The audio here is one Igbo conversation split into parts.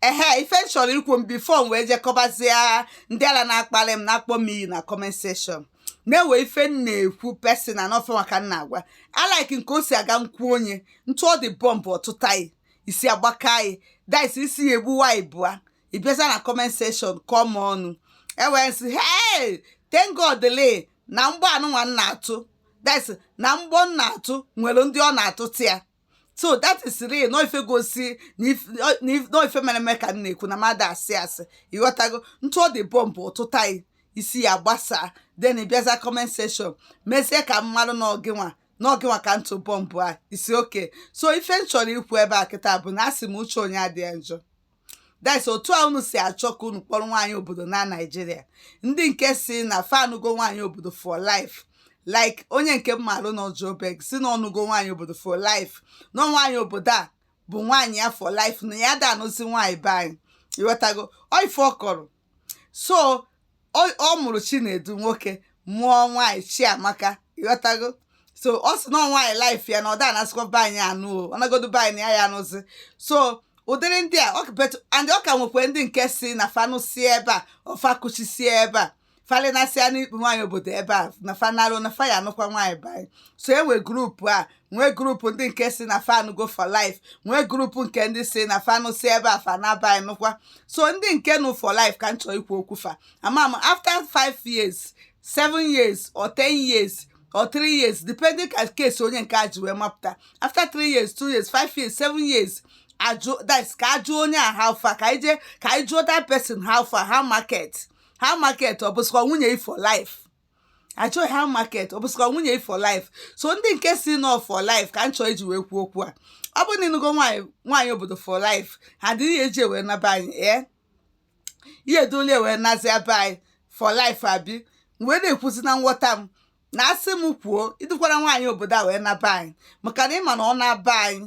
ehe ife m chọrọ ikwu m before m wee je kọbazie ndị ala na-akpali m na-akpọ m iyi na comment section na-ewe ife m na-ekwu personal na ọ fanwa ka m na-agwa like nke o si aga m kwuo onye m tụọ dị bọmbụ ọ tụta yị isi agbakaa yị that's isi ya egbuwaa ibụa ị bịazia na comment section kọọ m ọnụ e wee m sị hey thank God le na mgbọ anụnwa m na-atụ that's na mgbọ m na-atụ nwere ndị ọ na-atụta ya so that is real n'ọ ife gosi na if- ọ- na if- n'ọ ife mere eme ka m na-ekwu na m ada asị asị ị ghọtago m tụọ dị bọmbụ ọ tụta yị isi ya agbasaa then ị bịazia comment section mezie ka m malụ n'ọ gịnwa n'ọ gịnwa ka m tụ bọmbụ a isi okay so ife m chọrọ ikwu ebe a kịta bụ na asị m uche onye adị ya njọ that's otu a unu si achọ ka unu kpọrọ nwaanyị obodo naa naijiria ndị nke sị na fa anụgo nwaanyị obodo for life like onye nke m malụ na Joburg sị na ọ nụgo nwaanyị obodo for life na nwaanyị obodo a bụ nwaanyị ya for life na ya ada anụzi nwaanyị be anyị ị ghọtago ọ ife ọ kọrọ so ọ mụrụ chinedu nwoke mụọ nwaanyị chiamaka ị ghọtago so ọ sị na nwaanyị life ya na ọ da anasịkwa be anyị anụ o ọ nagodu be anyị ya ya anụzi so ụdịrị ndị a and ọ ka nwekwe ndị nke sị na fa nụsị ebe a or fa kuchisi ebe a fa linasịa n'ikpu nwaanyị obodo ebe a na fa nalụ na fa ya-anụkwa nwaanyị be anyị so e nwe group a nwee group ndị nke sị na fa anụgo for life nwee group nke ndị sị na fa nụsị ebe a fa naa be anyị nụkwa so ndị nke nụ for life ka m chọọ ikwu okwu fa ama m after five years seven years or ten years or three years depending ka case onye nke a ji wee mapụta after three years two years five years seven years ajụ that ka a jụọ onye a how far ka ije ka anyị jụọ that person how far how market how market ọ bụsịkwa nwunye gị for life a jụọ gị how market ọ bụsịkwa nwunye gị for life so ndị nke sị n'ọ for life ka m chọọ iji wee kwuo okwu a ọ bụrụ na ị nụgo nwaanyị nwaanyị obodo for life ha dịrị ya eji wee naa be anyị ee ị ya-edulu ya wee nazie be anyị for life abi wee na-ekwuzi na nghọta m na asị m kwuo ị dukwara nwaanyị obodo a wee naa be anyị maka na ị ma na ọ naa be anyị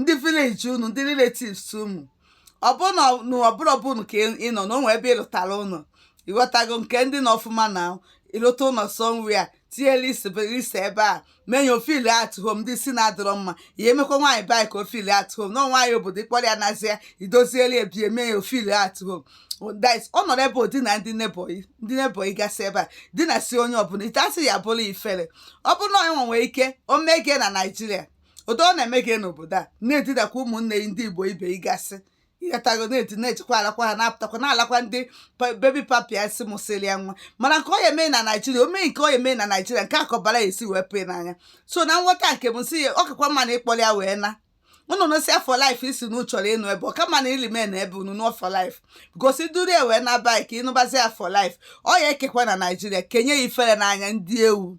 ndị village unu ndị relatives unu ọbụna ọbụla ọbụla ka ị nọ na o nwe ebe ị lụtara ụlọ ị ghọtago nke ndị nọ ọfụma na ị lụta ụlọ somewhere tinye list list ebe a mee ya ọ feel at home ndị si na-adọrọ mma ya emekwa nwaanyị be anyị ka ọ feel at home na nwaanyị obodo ị kpọrọ ya nazi ya idozieli ebie mee ya ọ feel at home that ọ nọrọ ebe odi na ndị neighbour yị ndị neighbour yị gasị ebe a di na si onye ọbụla ite asị ya bụrụ ifere ọ bụrụ na onye nwe nwee ike o mee gị na naijiria otu ọ na-eme gị n'obodo a na-etidakwa ụmụnne gị ndị igbo ibe ịgasị ị ghọtago na-eti na-echekwa alakwa ha na-apụtakwa na-alakwa ndị pa- baby papia si mụsịrị ya nwa mana nke ọ ya-eme na naijiria o mee nke ọ ya-eme na naijiria nke a kọbara ya e si wee pee n'anya so na nghọta nke m si ya ọ kakwa mma na ị kpọrọ ya wee na unu nụsịa for life ị sị na chọrọ ịnụ ebe ọ ka mma na ilime na ebe unu nụọ for life gosi duru ya wee naba ya ka ị nụbazi ya for life ọ ya-ekekwa na naijiria kenye ya ifere n'anya ndị ewu